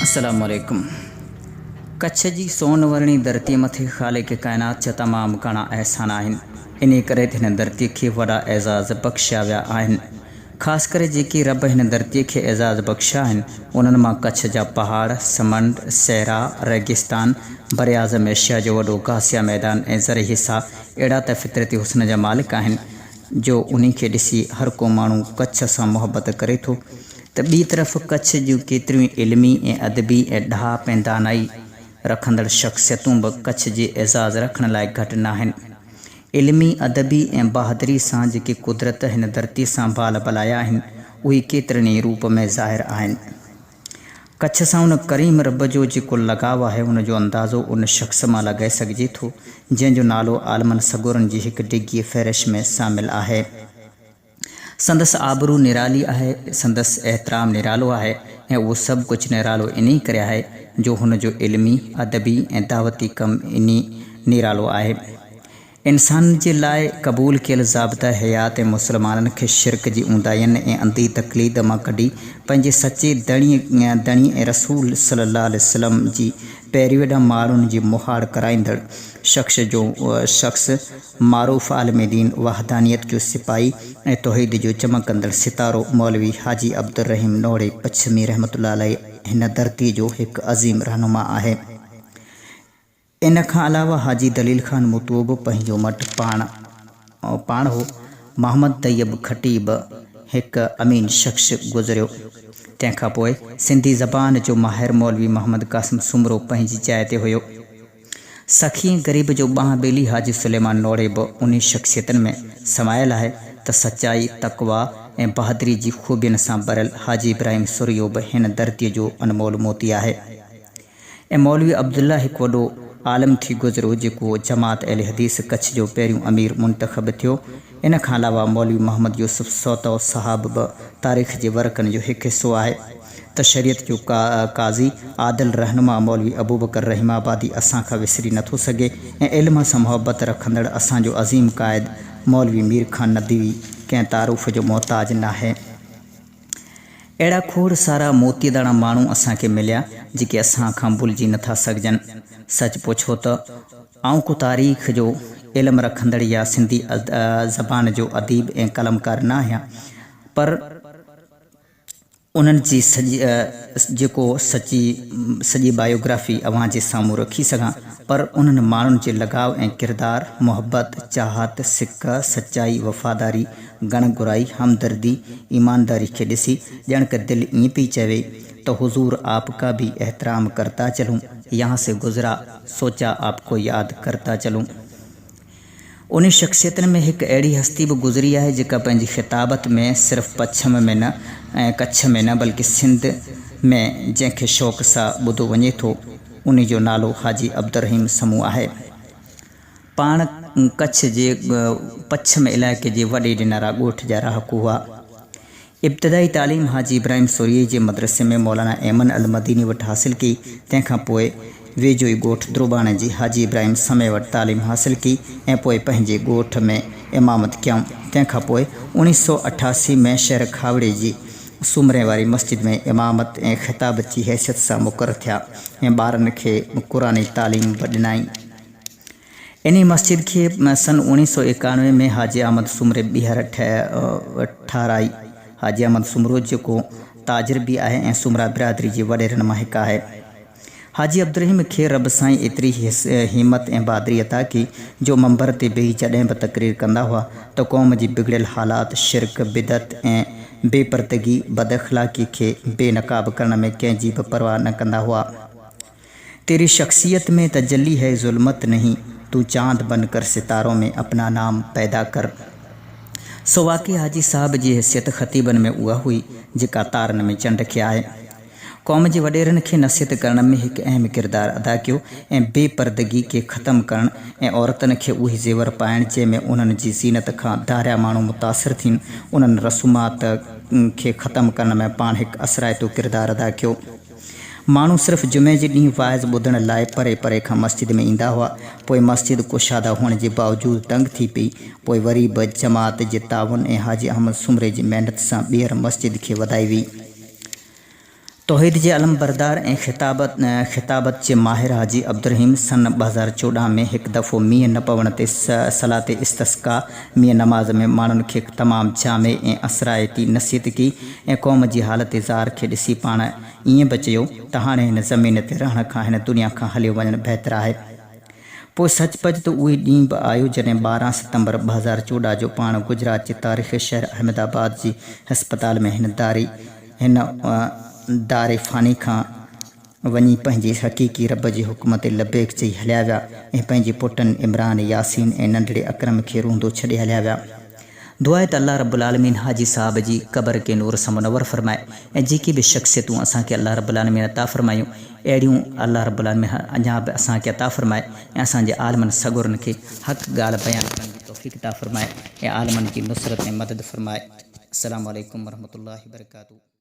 السلام عليڪم ڪڇ جي سون ورڻي ڌرتي مٿي خالق ڪائنات جا تمام گهڻا احسان آهن انهي ڪري ته هن ڌرتي کي وڏا اعزاز بخشيا ويا آهن خاص ڪري جيڪي رب هن ڌرتي کي اعزاز بخشيا آهن انهن مان ڪڇ جا پهاڙ سمنڊ صحرا ريگستان براعظم ايشيا جو وڏو گاسيا ميدان ۽ زرعي حصا اهڙا ته فطرتي حسن جا مالڪ آهن جو انهي کي ڏسي هر ڪو ماڻهو ڪڇ سان محبت ڪري ٿو ته ٻي طرف ڪڇ جون ڪيتريون ئي علمي ۽ ادبي ۽ ڏاهپ ۽ دانائي رکندڙ شخصيتون به ڪڇ جي اعزاز رکڻ لاء گهٽ ناهن. علمي، ادبي ۽ بهادري سان جيڪي قدرت هن ڌرتي سان بال بلايا آهن، اهي ڪيترن ئي روپ ۾ ظاهر آهن. ڪڇ سان ان ڪريم رب جو جيڪو لڳاء آهي، ان جو اندازو ان شخص مان لڳائي سگهجي ٿو، جنهن جو نالو عالمن سڳورن جي هڪ ڊگهيء فهرش ۾ شامل آهي. سندس آبرو نرالي آهي، سندس احترام نرالو آهي ۽ اهو سڀ ڪجهه نرالو انهي ڪري آهي جو هن جو علمي، ادبي ۽ دعوتي ڪم انهي نرالو آهي. انسان جي لاء قبول ڪيل ضابطه حيات ۽ مسلمانن کي شرڪ جي اونداهين ۽ انڌي تقليد مان ڪڍي پنهنجي سچي ڌڻي ڌڻي ۽ رسول صلي الله عليه وسلم جي پيروي ڏانهن ماڻهن جي مهاڙ ڪرائيندڙ شخص جو شخص معروف عالم دين، وحدانيت جو سپاهي ۽ توحيد جو چمڪندڙ ستارو مولوي حاجي عبدالرحيم نوڙي پڇمي رحمة الله عليه هن ڌرتيء جو هڪ عظيم رهنما آهي. ان کان علاوه حاجي دليل خان متوء به پنهنجو مٽ پاڻ پاڻ هو. محمد طيب کٽي به هڪ امين شخص گذريو. تنهن کان پوء سنڌي زبان جو ماهر مولوي محمد قاسم سومرو پنهنجي جاء تي هيو. سخي غريب جو ٻانهن ٻيلي حاجي سليمان نوڙي به انهي شخصيتن ۾ سمايل آهي ته سچائي، تقويٰ ۽ بهادري جي خوبين سان ڀريل حاجي ابراهيم سورهيو به هن ڌرتيء جو انمول موتي آهي ۽ مولوي عبدالله هڪ وڏو عالم ٿي گذريو جيڪو جماعت اهل حديث ڪڇ جو پهريون امير منتخب ٿيو. ان کان علاوه مولوي محمد يوسف سوتو صاحب به تاريخ جي ورقن جو هڪ حصو آهي. ته شريعت جو قاضي عادل رهنما مولوي ابوبڪر رحيم آبادي اسان کان وسري نٿو سگهي ۽ علم سان محبت رکندڙ اسان جو عظيم قائد مولوي مير خان ندوي ڪنهن تعارف جو محتاج ناهي. اهڙا کوڙ سارا موتي داڻا ماڻهو اسان کي مليا جيڪي اسان کان ڀلجي نٿا سگهجن. سچ پڇو ته آئون ڪو تاريخ جو علم رکندڙ يا سنڌي زبان جو اديب ۽ قلمڪار ناهيان پر انهن جي سڄي جيڪو سچي سڄي بايوگرافي اوهان جي سامهون رکي سگهان پر انهن ماڻهن جي لڳاء ۽ ڪردار، محبت، چاهت، سڪ، سچائي، وفاداري، گڻ گهرائي، همدردي، ايمانداري کي ڏسي ڄڻڪ دل ائين پئي چوي ته حضور آپ ڪا ڀي احترام ڪرتا چلون، يهان سي گذرا سوچا آپ ڪو ياد ڪرتا چلون. انهن شخصيتن ۾ هڪ اهڙي هستي به گذري آهي جيڪا پنهنجي خطابت ۾ صرف پڇم ۾ نه ۽ ڪڇ ۾ نه بلڪه سنڌ ۾ جنهن کي شوق سا ٻڌو وڃي ٿو انهي جو نالو حاجي عبدالرحيم سمون آهي پاڻ ڪڇ جي پڇم علائقي جي وڏي ڏنارا ڳوٺ جا رهاڪو هئا ابتدائي تعليم حاجي ابراهيم سورهيه جي مدرسي ۾ مولانا ايمن المديني وٽ حاصل ڪئي، تنهن کان پوء ويجهو ئي ڳوٺ دروباڻي جي حاجي ابراهيم سمي وٽ تعليم حاصل ڪئي ۽ پوء پنهنجي ڳوٺ ۾ امامت ڪيائون، تنهن کان پوء اوڻيهه سؤ اٺاسي ۾ شهر کاوڙي جي سومري واري مسجد ۾ امامت ۽ خطابت جي حيثيت سان مقرر ٿيا ۽ ٻارن کي قرآني تعليم به ڏنائين. انهي مسجد کي سن اوڻيهه سؤ ايڪاڻوي ۾ حاجي احمد سومري ٻيهر ٺهرائي. حاجي احمد سومرو جيڪو تاجر به آهي ۽ سومرا برادري جي وڏيرن مان هڪ آهي. حاجي عبدالرحيم کي رب سائين ايتري همت ۽ بهادري عطا ڪئي جو منبر تي بيهي جڏهن به تقرير ڪندا هئا ته قوم جي بگڙيل حالات، شرڪ، بدعت ۽ بي پردگي، بد اخلاقي کي بي نقاب ڪرڻ ۾ ڪنهن جي به پرواهه نه ڪندا هئا. تيري شخصيت مين تجلي هي ظلمت نهين تون چاند بن ڪر ستارو مين اپنا نام پيدا ڪر سو واقعي حاجي صاحب جي حيثيت خطيبن ۾ اها هئي جيڪا تارن ۾ چنڊ کي آهي قوم جي وڏيرن کي نصيحت ڪرڻ ۾ هڪ اهم ڪردار ادا ڪيو ۽ بي پردگي کي ختم ڪرڻ ۽ عورتن کي اهي زيور پائڻ جنهن ۾ انهن جي زينت کان ڌاريا ماڻهو متاثر ٿين انهن رسومات کي ختم ڪرڻ ۾ پاڻ هڪ اثرائتو ڪردار ادا ڪيو. ماڻهو صرف جمعي جي ڏينهن واعظ ٻڌڻ لاء پري پري کان مسجد ۾ ايندا هئا، پوء مسجد ڪشاده هئڻ جي باوجود تنگ ٿي پئي، پوء وري به جماعت جي تعاون ۽ حاجي احمد سومري جي محنت سان ٻيهر مسجد کي وڌائي ويئي. توحيد جي علمبردار ۽ خطابت جي ماهر حاجي عبدالرحيم سن ٻه هزار چوڏهن ۾ هڪ دفعو مينهن نه پوڻ تي صلات استسقا ميان نماز ۾ ماڻهن کي تمام جامع ۽ اثرائتي نصيحت ڪئي ۽ قوم جي حالت زار کي ڏسي پاڻ ائين به چيو ته هاڻي هن زمين تي رهڻ کان هن دنيا کان هليو وڃڻ بهتر آهي. پوء سچ پچ ته اهو ڏينهن به آيو جڏهن ٻارهن ستمبر ٻه هزار چوڏهن جو پاڻ گجرات جي تاريخي شهر احمد آباد جي هسپتال ۾ هن داري هن دار فاني کان وڃي پنهنجي حقيقي رب جي حڪم تي لبيڪ چئي هليا ويا ۽ پنهنجي پٽن عمران، ياسين ۽ ننڍڙي اڪرم کي روئندو ڇڏي هليا ويا. دعا آهي ته الله رب العالمين حاجي صاحب جي قبر کي نور سان منور فرمائي ۽ جيڪي به شخصيتون اسان کي الله رب العالمين عطا فرمايون اهڙيون الله رب العالمين اڃا به اسان کي عطا فرمائي ۽ اسان جي عالمن سڳورن کي حق ڳالهه بيان ڪرڻ جي توفيق عطا فرمائي ۽ عالمن جي نصرت ۽ مدد فرمائي. السلام عليڪم ورحمة الله وبرڪاته.